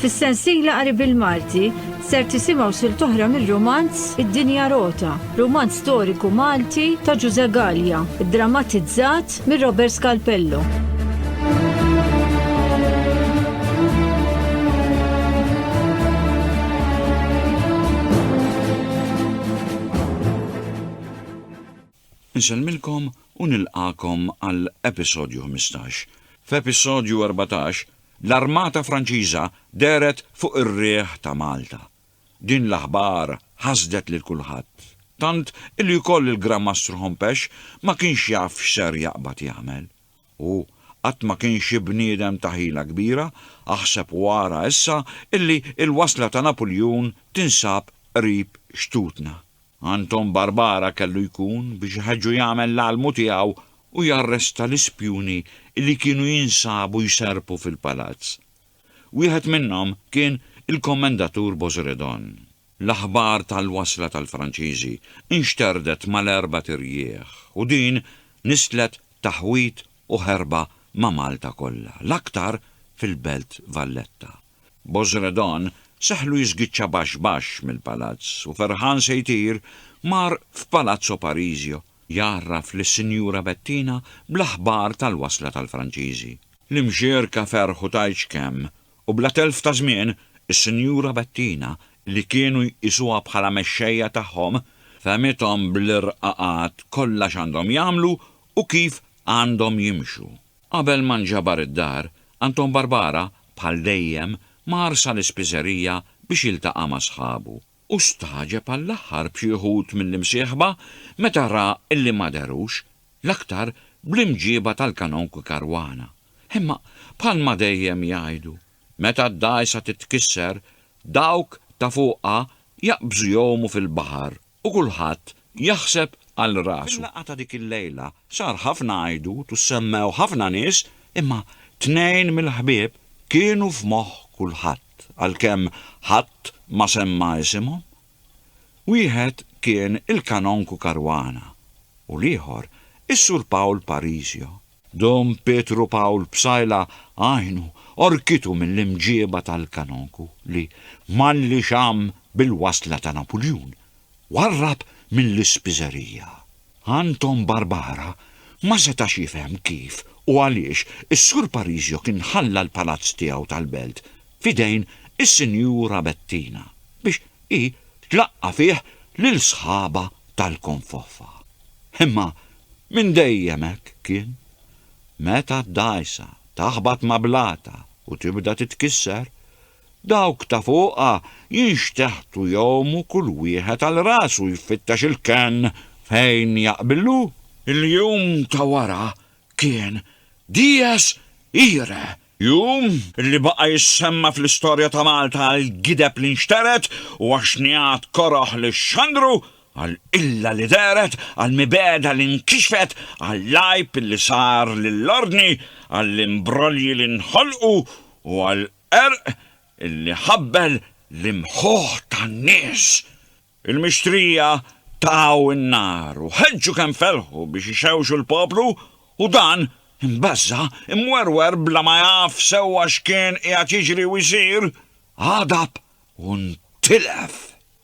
Fis-sensiela qari bil-Malti ser tisimgħu sil toħra mir-romanz Id-Dinja Rota, romanz storiku Malti ta' Ġuże Gallia, drammatizzat mir Robert Scalpello. Insellmilkom u nilqagħkom għal episodju ħmistax. F'episodju erbatax, l-Armata Franċiża dehret fuq ir-riħ ta' Malta. Din l-aħbar ħasdet lil kulħadd, tant illi wkoll il-Gran Mastru Hompesch ma kienx jaf x'ser jaqbad jagħmel. Hu qatt ma kien xi bniedem ta' ħila kbira, aħseb u ara issa illi l-wasla ta' Napuljun tinsab qrib xtutna. Anton Barbara kellu jkun biex iħeġġu jagħmel l-almu tiegħu u jarresta l-ispjuni li kienu jinsabu jserrpu fil-palazz. Wieħed minnhom kien il-Kommendatur Bozredon. L-aħbar tal-wasla tal-Franċiżi nxterdet mal-erbat irjieħ u din nisslet taħwid u ħerba ma' Malta kollha, l-aktar fil-Belt Valletta. Bozredon seħħlu jiżgiċċa baxx baxx mill-palazz u ferħan se jtir, mar f'Palazzo Parisio jgħarraf lis-Sinjura Bettina bl-aħbar tal-wasla tal-Franċiżi. L-imġierka ferħu tgħidx kemm u bla telf ta' żmien, is-Sinjura Bettina, li kienu jqisuha bħala mexxejja tagħhom, fehmithom bl-irqaqat kollha x'għandhom jagħmlu u kif għandhom jimxu. Qabel ma nġabar id-dar, Anton Barbara, bħal dejjem, mar sal-ispiżerija biex jiltaqa' ma' sħabu, u stagħġeb għall-aħħar b'xi wħud mill-imsieħba meta ra illi ma dehrux, l-aktar bl-imġieba tal-Kanonku Caruana. Imma, bħalma dejjem jgħidu, meta d-dgħajsa titkisser, dawk ta' fuqha jaqbżu jgħumu fil-baħar. u kulħadd jaħseb għal rasu. Fil-laqgħa ta' dik il-lejla sar ħafna għajdut u ssemmew ħafna nies imma tnejn mill-ħbieb kienu f'moħħ kulħadd għalkemm ħadd ma semma isimhom. Wieħed kien il-Kanonku Caruana u l-ieħor is-Sur Pawl Parisio. Dom Pietru Pawl Psaila għajnu għorkitu mill-imġieba tal-kanonku li, malli xamm bil-wasla ta' Napuljun, warrab mill-ispiżerija. Anton Barbara ma setax jifhem kif u għaliex is-Sur Parisio kien ħalla l-palazz tiegħu tal-Belt f'idejn is-Sinjura Bettina biex hi tlaqqa' fih lil sħabha tal-konfoffa. Imma Minn dejjem hekk kien. Meta d-dgħajsa taħbat ma' blata u tibda titkisser, dawk ta' fuqha jinxteħtu jgħumu kull wieħed għal rasu jfittex il-kenn fejn jaqbillu. Il-jum ta' wara kien dies irae Jum li baqa' jissemma fl-istorja ta' Malta għall-gideb li nxtered u għax-xnigħat koroh li xxandru, għall-qilla li dehret, għall-mibegħda li nkixfet, għall-għajb li sar lill-ordni, għall-imbrolji li nħolqu u għall-qerq li ħabbel l-imħuħ tan-nies. Il-mixtrija taw in-nar u ħeġġu kemm felħu biex ixewxu l-poplu u dan, imbeżża', imwerwer bla ma jaf sewwa x'kien qiegħed jiġri u jsir, għadab u ntilef.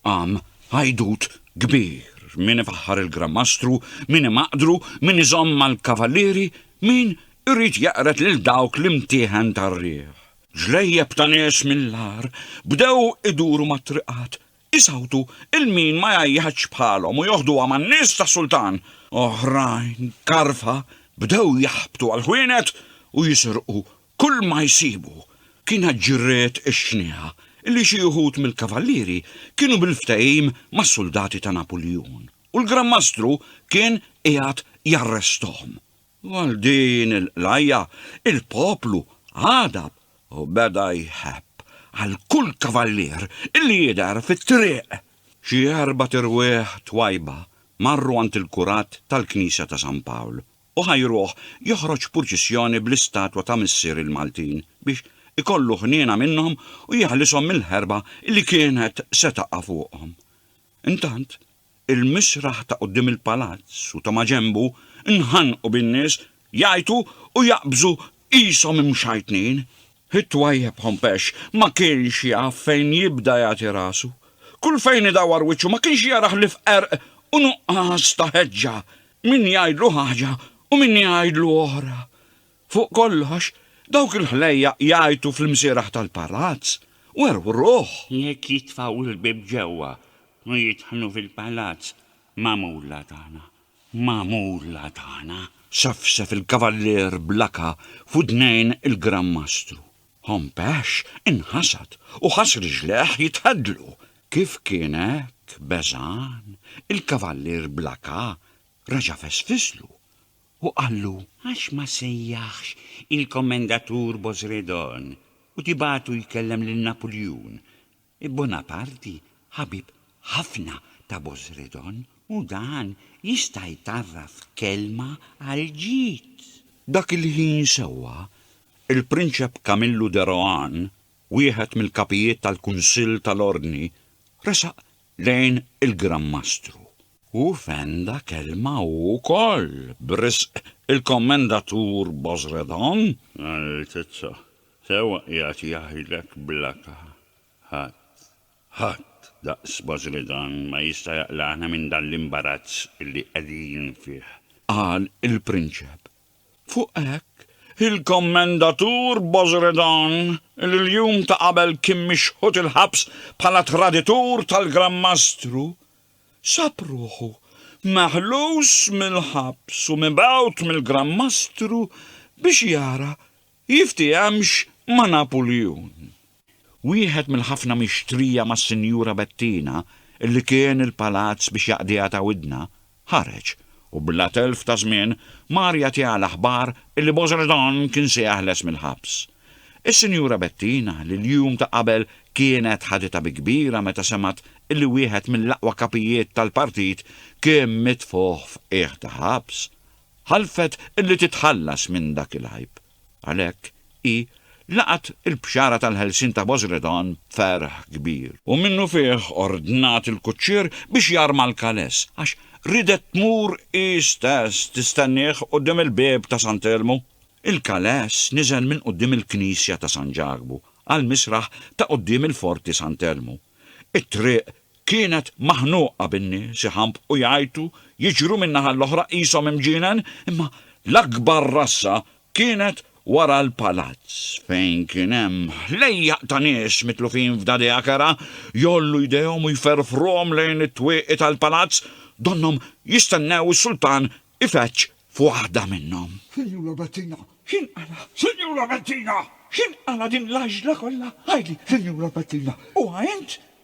Qam għajdut kbir, min ifaħħar il-Granmastru, min imaqdru, min iżomm mal-kavallieri, min irid jeqred lil dawk l-imtieħen tar-riħ. Ġlejjeb ta' nies mill-agħar bdew iduru mat-triqat Isawtu 'il min ma jgħajjatx bħalhom u joħduha man-nies tas-sultan. Oħrajn karfa bdew jaħbtu għall-ħwienet u jisirqu kull ma jsibu. Kienet ġriet ix-xnieha illi xi uħud mill-kavallieri kienu bil-ftehim mas-suldati ta' Napuljun u l-Gran Mastru kien qiegħed jarresthom. Għal din il-qlajja, il-poplu għadab u beda jħebb għal kull kavallier li jidher fit-triq. Xi erbat irwieħ twajba marru għand il-kurat tal-Knisja ta' San Pawl u ħajruh joħroġ purċissjoni bl-istatwa ta' Missier il-Maltin biex ikollu ħniena minnhom u jeħlishom mill-ħerba li kienet se taqa' fuqhom. Intant, Il-misraħ ta' quddiem il-palazz u ta' maġenbu nħanqu bin-nies jgħajtu u jaqbżu qishom imxajtnin. It-twajjeb ħompex ma kienx jaf fejn jibda jagħti rasu. Kull fejn idawwar wiċċu ma kienx jara ħlief qerq u nuqqas ta' ħeġġa, min jgħidlu ħaġa u min jgħidlu oħra. Fuq kollox, dawk il-ħlejjaq jgħajtu fl-imsieraħ tal-palazz, wergħu r-ruħ! Jekk jitfgħu l-bieb ġewwa u jidħlu fil-palazz, magħmula tagħna, magħmula tagħna! Sefsef il-Kavallier Blaka f'widnejn il-Gran Mastru. Hompesh inħasad u ħass riġlejh jitħeddlu. Kif kien hekk beżgħan, il-Kavallier Blaka reġa' fesfislu, U qallu, Għax ma sejjaħx il-Kommendatur Bozredon u tibagħtu jkellem lil Napuljun? Bonaparti ħabib ħafna ta' Bozredon u dan jista' jtarraf kelma għall-ġid. Dak il-ħin sewwa, il-Prinċep Camillu de Rohan, wieħed mill-kapijiet tal-Kunsill tal-Ordni, resaq lejn il-Gran Mastru. U fenda kelma hu wkoll b'risq il-Kommendatur Bozredon. Altezza, sewwa qiegħed jgħidlek bl-aka, ħadd, ħadd daqs Bozredon ma jista' jaqlagħna minn dan l-imbarazz li qegħdin fih. Qal il-prinċep, Fuq hekk, il-Kommendatur Bozredon, li l-jum ta' qabel kien mixħut il-ħabs bħala traditur tal-Gran Mastru, sab ruħu meħlus mill-ħabs u mibgħut mill-Gran Mastru biex jara jiftihemx ma' Napuljun. Wieħed mill-ħafna mixtrija mas-Sinjura Bettina illi kien il-palazz biex jaqdiha ta' widna, ħareġ, u bla telf ta' żmien mar jagħtiha l-aħbar illi Bosredon kien se jeħles mill-ħabs. Is-Sinjura Bettina, li l-jum ta' qabel kienet ħaditha bi kbira meta semgħet illi wieħed mill-aqwa kapijiet tal-partit kien mitfugħ f'qiegħ ta' ħabs, ħalfet illi titħallas minn dak il-għajb. Għalhekk, hi laqgħet il-bxara tal-ħelsien ta' Bosredon b'ferħ kbir. U minnufih ordnat il-kuċċier biex jarma l-kales, għax riedet tmur hi stess tistennieh quddiem il-bieb ta' San Telmu. Il-kales niżel minn quddiem il-knisja ta' San Ġakbu għall-misraħ ta' quddiem il-Forti San Telmu. It-triq Kienet maħnuqa bin-nies iħambqu jgħajtu, jiġru min-naħa l-oħra qishom imġienen, imma l-akbar rassa kienet wara l-palazz fejn kien hemm ħlejjaq ta' nies mitlufin f'dadea kerha, jgħollu jdejhom u jferfruhom lejn it-twieqi tal-palazz, donnhom jistennew is-sultan ifeġġ f'waħda minnhom. Sinjura Bettina, x'inqala'? Sinjura Bettina, x'inqala' din l-għaġla kollha? Għidli, Sinjura Bettina, huwa int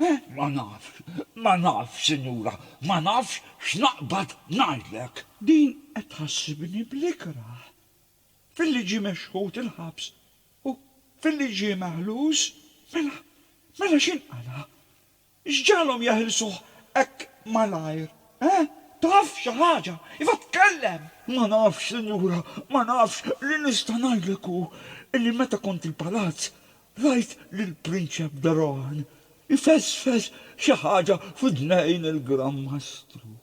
Eh, ma nafx, ma nafx, sinjura, ma nafx x'naqbad ngħidlek. Din qed tħassibni bl-ikrah. Filli ġie mexħut il-ħabs u filli ġie meħlus, mela, mela x'inqala'? X'ġagħalhom jeħilsuh hekk malajr, eh? Taf xi ħaġa? Iva tkellem! Ma nafx, sinjura, ma nafx, li nista' ngħidlek hu illi meta kont il-palazz, Rajt lill-Prinċep de Rohan jfesfes xi ħaġa f'idnejn il-Gran Mastru,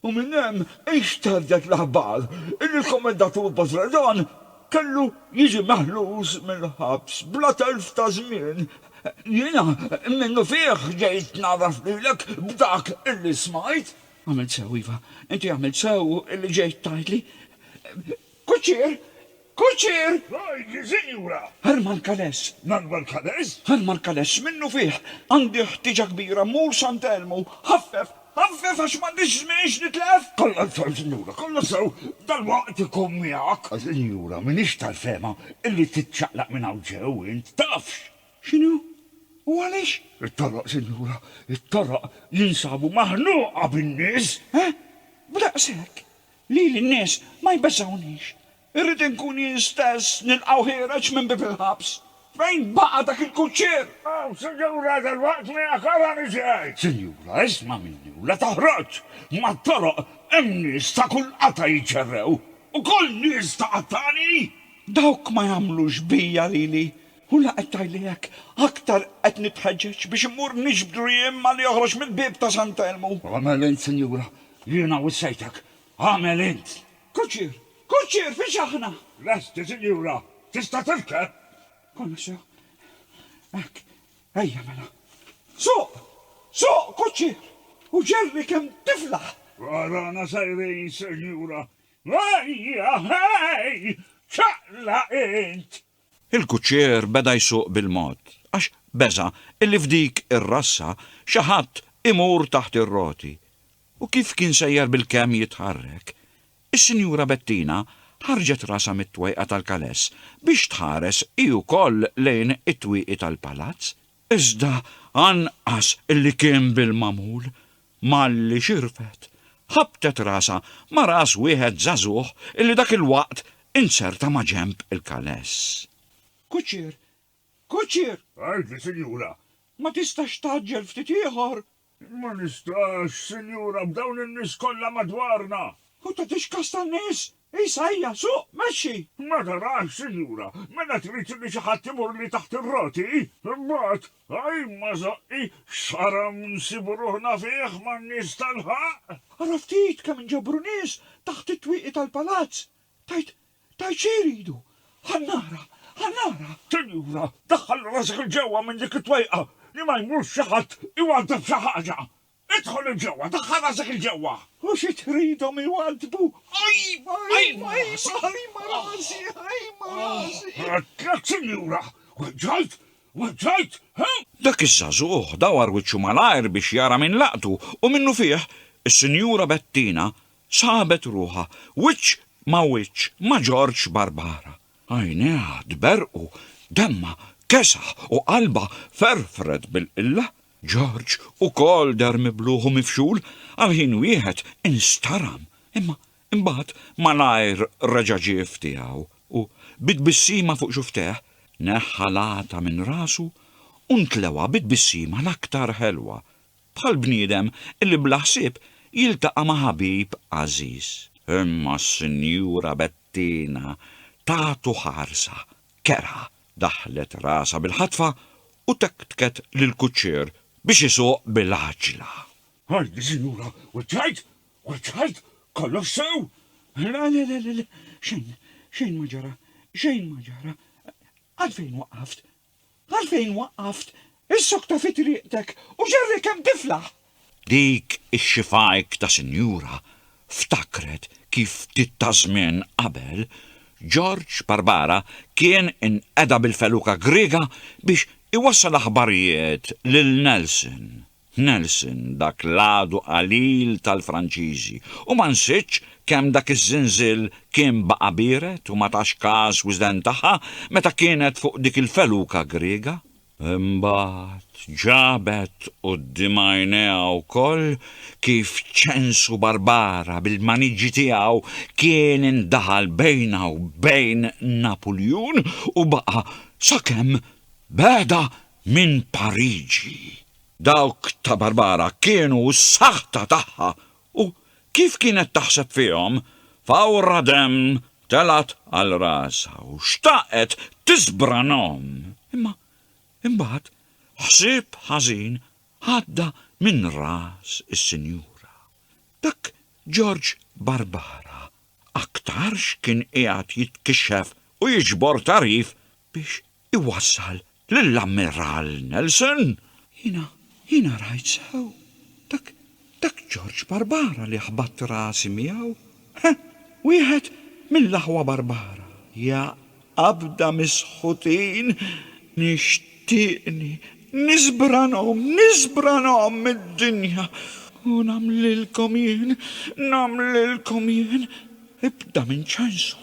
u minn hemm inxterdet l-aħbar illi l-Kommandatur Bozredon kellu jiġi meħlus mill-ħabs bla telf ta' żmien. Jiena, minnufih ġejt ngħarraf lilek b'dak illi smajt. Għamilt sew, iva, inti għamilt sew illi ġejt tgħidli. Kuċċier! Kuċċier! Ngħidli, sinjura! Herman Kales! Manuel Kales? Herman Kales, x'minnufih? Għandi ħtieġa kbira mmur Sant' Elmu! Ħaffef! Ħaffef għax m'għandix żmien x'nitlef! Kollha sew, sinjura, kollha sew! Dalwaqt ikun miegħek! Sinjura, m'iniex tal-fehma illi tiċċaqlaq minn hawn ġew int, tafx! X'inhu? U għaliex? It-toroq, sinjura, it-toroq jinsabu maħnuqa bin-nies! Eh? B'daqshekk? Lili n-nies ma jbeżżgħunix. Irrid inkun jien stess nilqgħu ħiereġ minn bieb il-ħabs. Fejn baqa' dak il-kuċċier? Aw, sinjura, dalwaqt miegħek ara niġi għid. Sinjura, isma' minni u la toħroġ! Mat-toroq hemm nies ta' kull qatgħa jiċċerrew. Ukoll nies ta' qattgħani! Dawk ma jagħmlux bija, Lili. U la qed tgħidli hekk, aktar qed nitħeġġeġ biex immur niġbdu riem ma' li joħroġ mill-bieb ta' Sant' Elmu. Agħmel int, sinjura, jiena wissejtek. Agħmel int! Kuċċier! Kuċċier, fiex aħna? Lesti, sinjura. Tista' tirkeb? Konna sew. Hekk. Ejja, mela. Suq! Suq, kuċċier! U ġerri kemm tiflaħ! Warana sejrin, sinjura. Ejja, hej! Ċaqlaq int! Il-kuċċier beda jsuq bil-mod, għax beża' illi f'dik ir-rassa xi ħadd imur taħt ir-roti, u kif kien sejjer bilkemm jitħarrek, is-Sinjura Bettina ħarġet rasha mit-twejqa tal-kaless biex tħares hi wkoll lejn it-twieqi tal-palazz Iżda anqas li kien bil-magħmul, malli xirfet, ħabbtet rasha ma' ras wieħed żagħżugħ li dak il-waqt inzerta ma' ġenb il-kaless. Kuċċier! Kuċċier! Għidli, sinjura! Ma tistax tgħaġġel ftit ieħor? Ma nistax, Sinjura, b'dawn in-nies kollha madwarna! U tagħtix kas tan-nies? Isa hija, suq, mexxi! Ma tarax, Sinjura, mela trid li xi ħadd imurli taħt ir-roti? Imbagħad, Ajn, ma żoqqi, x'qaram nsibu ruħna fih man-nies tal-ħaqq! Ara ftit kemm inġabru nies taħt it-twieqi tal-palazz! Tgħid, tgħid xi jridu? Ħa nara, ħa nara! Sinjura, daħħal rasek 'il ġewwa minn dik it-twejqa li ma jmurx xi ħadd iwaddab xi ħaġa! Idħol 'il ġewwa, daħħal rasek 'il ġewwa! U xi tridhom iwaddbu? Ħajma, ħajma, ħajma, ħajma rasi, ħajma rasi! Għedtlek, sinjura! Weġġajt, weġġajt, he? Dak iż-żagħżugħ dawar wiċċu malajr biex jara min laqtu u minnufih, is-Sinjura Bettina Sabet ruħha wiċċ ma' wiċċ ma' Ġorġ Barbara. Għajnejha tberrqu, demmha kesaħ u qalbha ferfret bil-qilla. Ġorġ ukoll deher mibluħ u mifxul, għal ħin wieħed instaram, imma imbagħad malajr reġa' ġie f'tiegħu u, bi tbissima fuq xuftejh, neħħa l-għata minn rasu u ntlewha bi tbissima l-aktar ħelwa. bħal bniedem li bla ħsieb jiltaqa' ma' ħabib għażiż. Imma s-Sinjura Bettina tagħtu ħarsa kerha, daħħlet rasha bil-ħatfa u tektket lill-kuċċier biex isuq bil-għaġġla. Għalli, Sinjura, wiċċajt, wiċċajt, kollox sew! Le, le, le, le, xejn, xejn ma ġara, xejn ma ġara. Għalfejn waqqaft? Għalfejn waqqaft is-sokta fi triqtek u ġarri kemm tiflaħ? Dik ix-xifajk ta' sinjura ftakret kif ftit ta' żmien qabel, George Barbara kien inqeda bil-feluka Griega biex iwassal aħbarijiet lil Nelson. Nelson dak l-għadu qalil tal-Franċiżi u ma nsitx kemm dak iż-żinżil kien baqa' biered u ma tax każ wisden tagħha meta kienet fuq dik il-feluka Griega. Imbagħad ġabet quddiem għajnejha wkoll kif Ċensu Barbara bil-maniġi tiegħu kien indaħal bejnha u bejn Napuljun u baqa' sakemm beda Minn Pariġi. Dawk ta' Barbara kienu s-saħta tagħha u kif kienet taħseb fihom, fawra demm telgħet għal rasha u xtaqet tiżbranhom. Imma imbagħad ħsieb ħażin għadda minn ras is-sinjura. Dak Ġorġ Barbara aktarx kien qiegħed jitkixxef u jiġbor tagħrif biex iwassal lill-Ammiral Nelson. Jiena, jiena rajt sew. Dak, dak Ġorġ Barbara li ħbatt rasi miegħu. He, wieħed mill-aħwa Barbara. Ja qabda mis-sħutin! Nixtieqni niżbranhom, niżbranhom mid-dinja! U nagħmlilkom jien, nagħmlilkom jien! Ibda minn ċansu,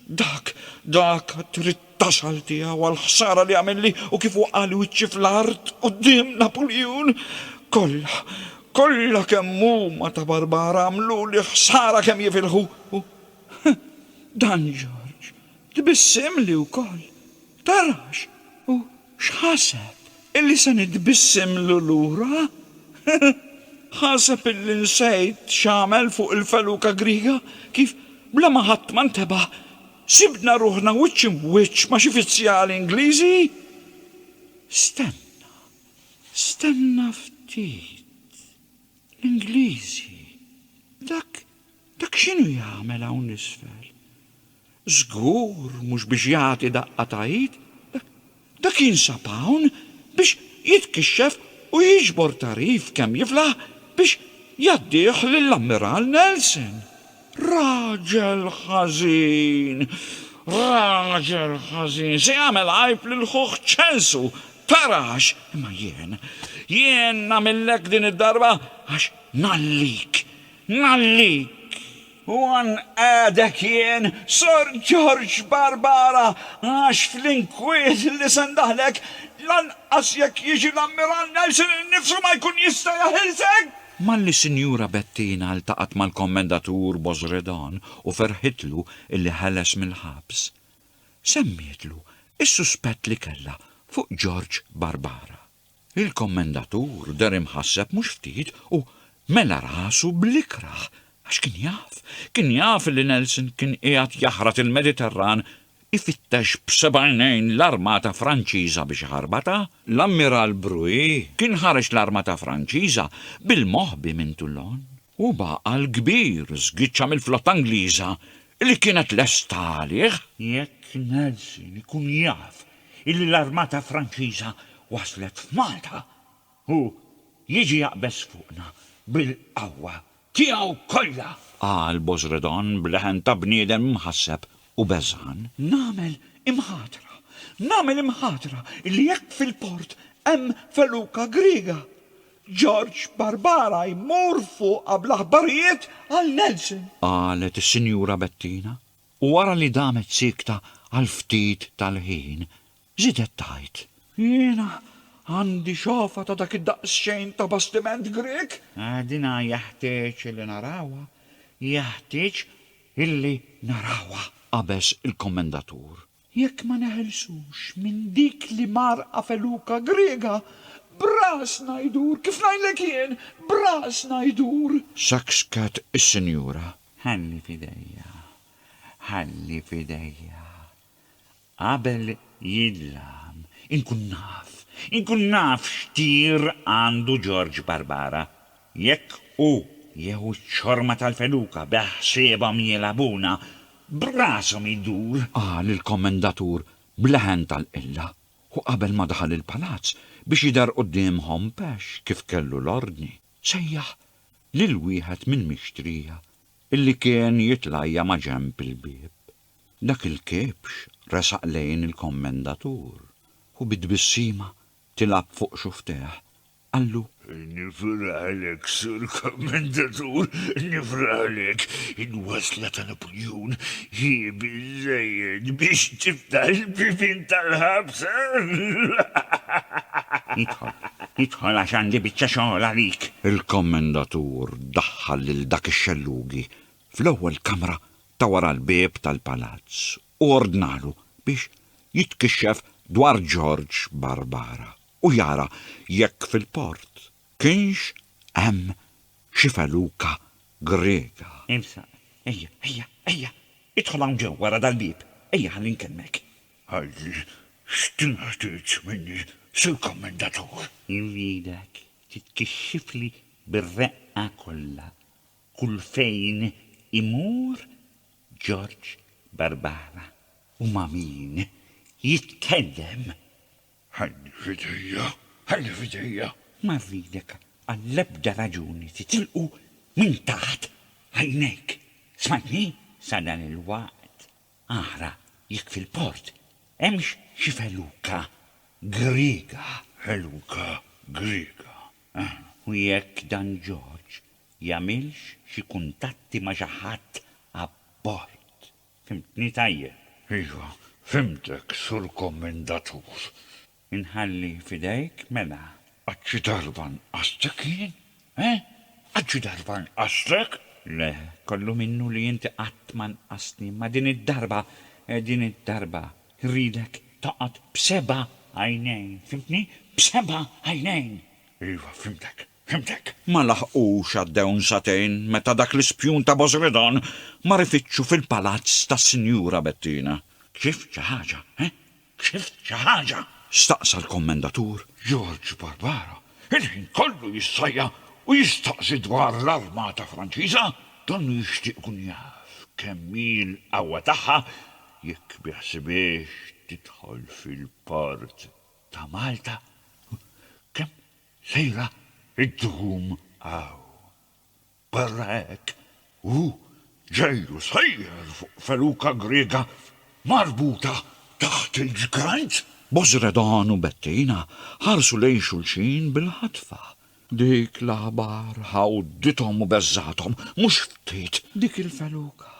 dak, dak trid taxħal tiegħu għall-ħsara li għamilli u kif waqqagħli wiċċi fl-art quddiem Napuljun. Kollha, kollha kemm huma ta' barbara għamluli ħsara kemm jifilħu u Dan Ġorġ tbissimli wkoll. Tarax! U x'ħaseb, illi se nitbissimlu lura? Ħaseb illi nsejt x'għamel fuq il-feluka Griega, kif bla ma ħadd ma ntebaħ, Sibna ruħna wiċċ im'wiċċ ma' xi fizzjali Ingliżi. Stenna, stenna ftit. L-Ingliżi, dak, dak x'inhu jagħmel hawn isfel? Żgur mhux biex jagħti daqqa ta' id. Dak jinsab hawn biex jitkixxef u jiġbor tagħrif kemm jiflaħ biex jgħaddih lill-Ammiral Nelson. Raġel ħażin! Raġel ħażin! Se jagħmel għajb lil ħuh Ċelsu! Tara għax! Imma jien, jien nagħmillek din id-darba għax ngħallik! Ngħallik! U hawn qiegħdek jien, Sor George Barbara, għax fl-inkwiet li se ndaħħlek, lanqas jekk jiġi l-Ammiral Nelson innifsu ma jkun jista' jaħilsek! Malli s-Sinjura Bettina ltaqgħet mal-Kommendatur Bozredon u ferħitlu illi ħeles mill-ħabs, semmietlu s-suspett li kellha fuq George Barbara. Il-Kommendatur deher imħasseb mhux ftit u mela rasu bl-ikrah għax kien jaf, kien jaf li Nelson kien qiegħed jaħrat il-Mediterran ifittex b'seb'għajnejn l-armata Franċiża biex iħarbatha. L-Ammiral Bruix kien ħareġ l-armata Franċiża bil-moħbi minn Toulon. U baqal kbir żgiċċa mill-flotta Ingliża li kienet lesta għalih. Jekk Nelson ikun jaf illi l-armata Franċiża waslet f'Malta, hu jiġi jaqbeż fuqna bil-qawwa tiegħu kollha! Qal Bozredon b'leħen ta' bniedem imħasseb u beżgħan. Nagħmel imħatra, nagħmel imħatra illi jekk fil-port hemm feluka Griega, George Barbara jmur fuqha bl-aħbarijiet għal Nelson. Qalet is-Sinjura Bettina u wara li damet siekta għal ftit tal-ħin, żiedet tgħid. Jiena għandi xofa ta' dak id-daqsxejn ta' bastiment Grieg. Dina jeħtieġ illi narawha, jeħtieġ illi narawha! qabeż il-Kommendatur. Jekk ma neħilsux minn dik l-imgħarrqa feluka Griega, b'rasna jdur, kif ngħidlek jien, b'rasna jdur! Sakskat is-sinjura. Ħalli f'idejja, ħalli f'idejja. Qabel jidlam, inkun naf, inkun naf x'tir għandu George Barbara. Jekk hu jieħu ċ-ċorma tal-feluka beħsiebhom jilgħabuna, b'rashom idur! Qal il-kommendatur b'leħen tal-qilla u qabel ma daħal il-palazz biex jidher quddiemhom b'ex kif kellu l-ordni, sejjaħ lil wieħed mill-mixtrija illi kien jitlajja ma' ġenb il-bieb. Dak il-kiebx resaq lejn il-kommendatur u bi tbissima tilgħab fuq xufftejh qallu. Nifraħlek, Sur Kummandatur, nifraħlek. Il-wasla ta' Napuljun hi biżżejjed biex tiftaħ il-bibien tal-ħabsa. Idħol, idħol għax għandi biċċa xogħol għalik. Il-Kummandatur daħħal lil dak ix-xellugi fl-ewwel kamra ta' wara l-bieb tal-palazz u ordnalu biex jitkixxef dwar Ġorġ Barbara. u jara jekk fil-port kienx hemm xi feluka Griega. Ibsa, Ejja, ejja, ejja, idħol hawn ġewwa wara dal-bieb, ejja ħalli nkellmek. Għalli, x'tinħtieġ minni, Sur Kommendatur? Irridek titkixxifli bir-reqqa kollha kull fejn imur George Barbara u ma' min jitkellem. Ħalli f'idejja, ħalli f'idejja. Ma rridek għall-ebda raġuni titilqu minn taħt għajnejk, smajtni? Sadan il-waqt ara jekk fil-port hemmx xi feluka Griega. Feluka Griega, eħe. U jekk dan George jagħmilx xi kuntatti ma' xi ħadd abbord. Fhimtni tajjeb? Iva, fhimtek, Sur Kommendatur. Inħalli f'idejk, mela. Għad xi darba nqastek jien? He? Għad xi darba nqastek? Le, kollu minnu li inti qatt ma nqastni, imma din id-darba, din id-darba, rridek toqgħod b'seba' għajnejn, fhimtni? B'seba' għajnejn! Iva, fhimtek. Fhimtek. Ma laħqux għaddewn sagħtejn meta dak l-ispjun ta' Bosredon mar ifittxu fil-palazz tas-Sinjura Bettina. Kshift xi ħaġa, he? Kshift xi ħaġa? staqsa l-Kommendatur. George Barbaro, il-ħin kollu jissajja u jistaqsi dwar l-armata Franċiża, donnu jixtieq ikun jaf kemm hi l-qawwa tagħha, jekk biħsibiex tidħol fil-port ta' Malta. Kemm Lejla ddum hawn. Barra hekk, hu ġejlu sejjer fuq feluka Griega marbuta taħt il-ġgrajt. Bozredon u Bettina ħarsu lejn xulxin bil-ħatfa. Dik l-aħbar ħawdithom u beżgħathom mhux ftit. Dik il-feluka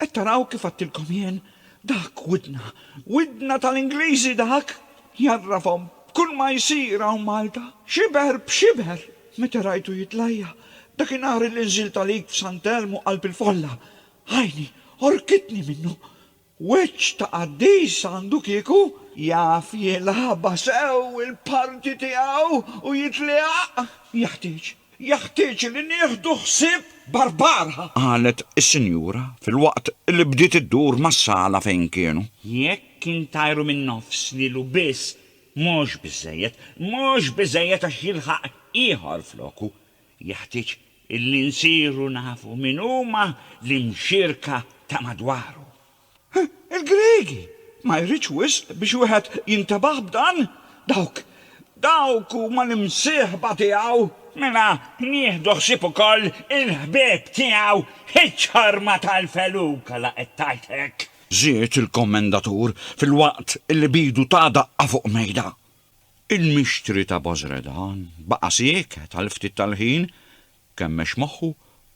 Qed taraw kif għedtilkom jien? Dak widna, widna tal-Ingliżi dak! Jgħarrafhom b'kull ma jsir hawn Malta. Xiber b'xiber meta rajtu jitlajja dakinhar li nżilt għalik f'Sant Elmu qalb il-folla, għajni għorkitni minnu. Wiċċ ta' qaddis għandu kieku! Jaf jilagħabha sew il-parti tiegħu u jitliegħaq! Jeħtieġ Jeħtieġ li nieħdu ħsieb Barbara! Qalet is-sinjura filwaqt li bdiet iddur mas-sala fejn kienu. Jekk intajru min-nofs lilu biss mhux biżżejjed, mhux biżżejjed għax jilħaq ieħor floku. Jeħtieġ li nsiru nafu min huma l-imxierka ta' madwaru. Il-Griegi! Ma jridx wisq biex wieħed jintebaħ b'dan? Dawk, dawk huma l-imsieħba tiegħu! Mela nieħdu ħsieb ukoll il-ħbieb tiegħu! Iċ-ċarma tal-feluka la qed tgħid hekk! Żied il-Kommendatur filwaqt li b'idu ta daqqa fuq mejda. Il-mixtri ta' Bozredan baqa' sieket għal ftit tal-ħin Kemmex moħħu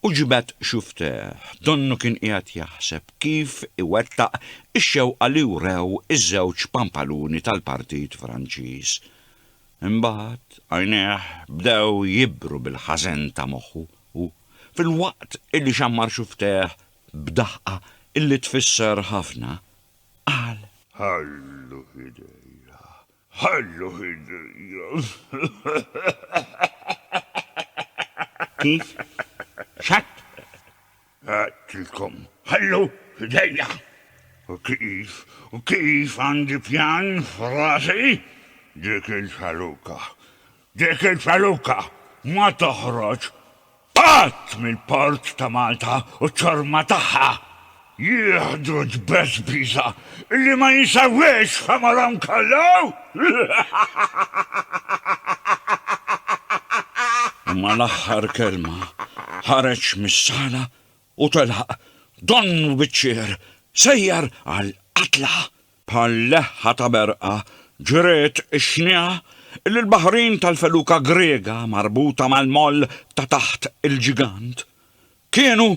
u ġibed xuftejh, donnu kien qiegħed jaħseb kif iwettaq ix-xewqa li wrew iż-żewġ pampaluni tal-Partit Franċiż. Imbagħad għajnejh bdew jibru bil-ħażen ta' moħħu u, filwaqt illi xammar xuftejh b'daħqa illi tfisser ħafna, qal. Ħallu f'idejja, Ħallu Kif? X'għedt? Għedtilkom ħallu f'idejja! U kif, u kif għandi pjan f'rasi? Dik il-ċaluka, dik il-ċaluka ma toħroġ! Qatt mill-port ta' Malta u ċ-ċorma tagħha jieħdu tbeżbiża li ma jinsewiex f'għemorhom kollu! U mal-aħħar kelma ħareġ mis-sala u telaq donnu biċ-ċier sejjer għall-qatla. Bħal leħħa ta' berqa, ġriet ix-xniegħa li l-baħrin tal-feluka Griega marbuta mal-moll ta' taħt il-ġigant kienu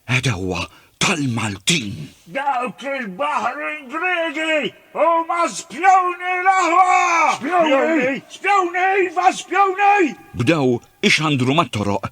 għedewwa tal-Maltin. Dawk il-baħrin Griegi huma spjuni l-aħwa! Spjuni! Spjuni, iva spjuni! Bdew ixandru mat-toroq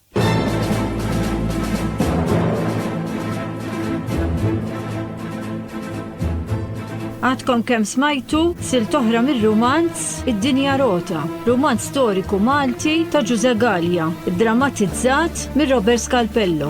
Għadkom kemm smajtu sil toħra mir-rumanz Id-Dinja Rota, rumanz storiku Malti ta' Ġuże Gallia, drammatizzat mir Robert Scalpello.